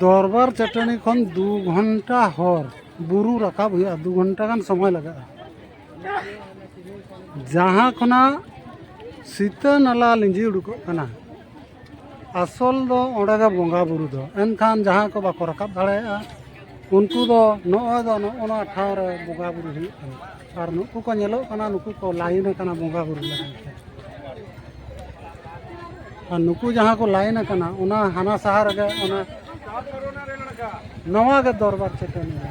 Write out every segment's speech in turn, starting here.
ᱫᱚᱨᱵᱟᱨ ᱪᱟᱹᱴᱟᱹᱱᱤ ᱠᱷᱚᱱ ᱫᱩ ᱜᱷᱚᱱᱴᱟ ᱦᱚᱨ ᱵᱩᱨᱩ ᱨᱟᱠᱟᱵ ᱦᱩᱭᱩᱜᱼᱟ ᱫᱩ ᱜᱷᱚᱱᱴᱟ ᱜᱟᱱ ᱥᱚᱢᱚᱭ ᱞᱟᱜᱟᱜᱼᱟ ᱡᱟᱦᱟᱸ ᱠᱷᱚᱱᱟᱜ ᱥᱤᱛᱟᱹ ᱱᱟᱞᱟ ᱞᱤᱸᱡᱤ ᱩᱰᱩᱠᱚᱜ ᱠᱟᱱᱟ ᱟᱥᱚᱞ ᱫᱚ ᱚᱸᱰᱮ ᱜᱮ ᱵᱚᱸᱜᱟ ᱵᱩᱨᱩ ᱫᱚ ᱮᱱᱠᱷᱟᱱ ᱡᱟᱦᱟᱸᱭ ᱠᱚ ᱵᱟᱠᱚ ᱨᱟᱠᱟᱵ ᱫᱟᱲᱮᱭᱟᱜᱼᱟ ᱩᱱᱠᱩ ᱫᱚ ᱱᱚᱜᱼᱚᱭ ᱫᱚ ᱱᱚᱜᱼᱚ ᱱᱚᱣᱟ ᱴᱷᱟᱶ ᱨᱮ ᱵᱚᱸᱜᱟ ᱵᱩᱨᱩ ᱦᱩᱭᱩᱜ ᱠᱟᱱᱟ ᱟᱨ ᱱᱩᱠᱩ ᱠᱚ ᱧᱮᱞᱚᱜ ᱠᱟᱱᱟ ᱱᱩᱠᱩ ᱠᱚ ᱞᱟᱭᱤᱱ ᱟᱠᱟᱱᱟ ᱵᱚᱸᱜᱟ ᱵᱩᱨᱩ ᱞᱟᱹᱜᱤᱫ ᱛᱮ ᱟᱨ ᱱᱩᱠᱩ ᱡᱟᱦᱟᱸ ᱠᱚ ᱞᱟᱭᱤᱱ ᱟᱠᱟᱱᱟ ᱚᱱᱟ ᱦᱟᱱᱟ ᱥᱟᱦᱟ ᱨᱮᱜᱮ ᱚᱱᱟ ᱱᱚᱣᱟ ᱜᱮ ᱫᱚᱨᱵᱟᱨ ᱪᱮᱛᱟᱱ ᱨᱮ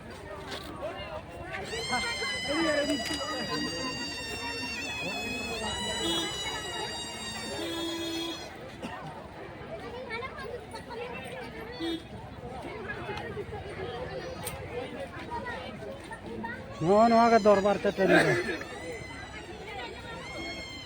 ᱱᱚᱜᱼᱚ ᱱᱚᱣᱟ ᱜᱮ ᱫᱚᱨᱵᱟᱨ ᱪᱟᱹᱴᱟᱹᱱᱤ ᱫᱚ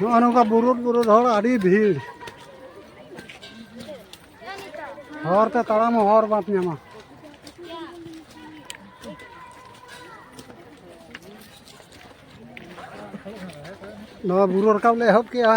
ᱱᱚᱜᱼᱚ ᱱᱚᱝᱠᱟ ᱵᱩᱨᱩᱫ ᱵᱩᱨᱩᱫ ᱦᱚᱲ ᱟᱹᱰᱤ ᱵᱷᱤᱲ ᱦᱚᱨ ᱛᱮ ᱛᱟᱲᱟᱢ ᱦᱚᱸ ᱦᱚᱨ ᱵᱟᱢ ᱧᱟᱢᱟ ᱱᱚᱣᱟ ᱵᱩᱨᱩ ᱨᱟᱠᱟᱵ ᱞᱮ ᱮᱦᱚᱵ ᱠᱮᱜᱼᱟ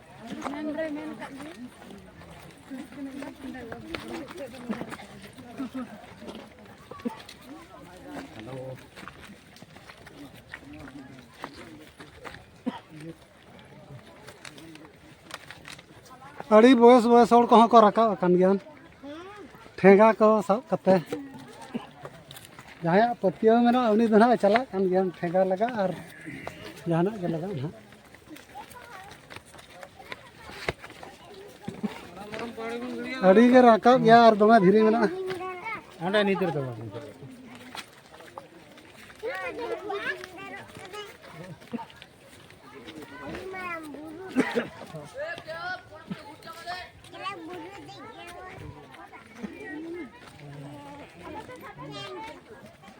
ᱟᱹᱰᱤ ᱵᱚᱭᱮᱥ ᱵᱚᱭᱮᱥ ᱦᱚᱲ ᱠᱚᱦᱚᱸ ᱠᱚ ᱨᱟᱠᱟᱵ ᱟᱠᱟᱱ ᱜᱮᱭᱟ ᱴᱷᱮᱸᱜᱟ ᱠᱚ ᱥᱟᱵ ᱠᱟᱛᱮ ᱡᱟᱦᱟᱸᱭᱟᱜ ᱯᱟᱹᱛᱭᱟᱹᱣ ᱢᱮᱱᱟᱜᱼᱟ ᱩᱱᱤ ᱫᱚ ᱱᱟᱦᱟᱜ ᱪᱟᱞᱟᱜ ᱠᱟᱱ ᱜᱮᱭᱟ ᱴᱷᱮᱸᱜᱟ ᱞᱟᱜᱟᱜ ᱟᱨ ᱡᱟᱦᱟᱱᱟᱜ ᱜᱮ ᱞᱟᱜᱟᱜ ᱱᱟᱦᱟᱜ ᱟᱹᱰᱤ ᱜᱮ ᱨᱟᱠᱟᱵ ᱜᱮᱭᱟ ᱟᱨ ᱫᱚᱢᱮ ᱫᱷᱤᱨᱤ ᱢᱮᱱᱟᱜᱼᱟ ᱚᱸᱰᱮ ᱱᱤᱛ ᱨᱮᱫᱚ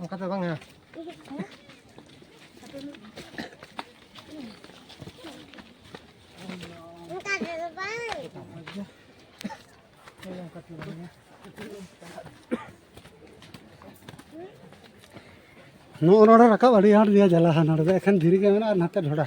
ᱚᱱᱠᱟ ᱫᱚ ᱵᱟᱝᱟ ᱱᱚᱜᱼᱚ ᱱᱚᱰᱮ ᱨᱟᱠᱟᱵ ᱟᱹᱰᱤ ᱟᱸᱴ ᱜᱮᱭᱟ ᱡᱟᱞᱟ ᱱᱚᱰᱮ ᱫᱚ ᱮᱠᱷᱮᱱ ᱫᱷᱤᱨᱤ ᱜᱮ ᱢᱮᱱᱟᱜᱼᱟ ᱱᱟᱛᱮ ᱰᱷᱚᱰᱟ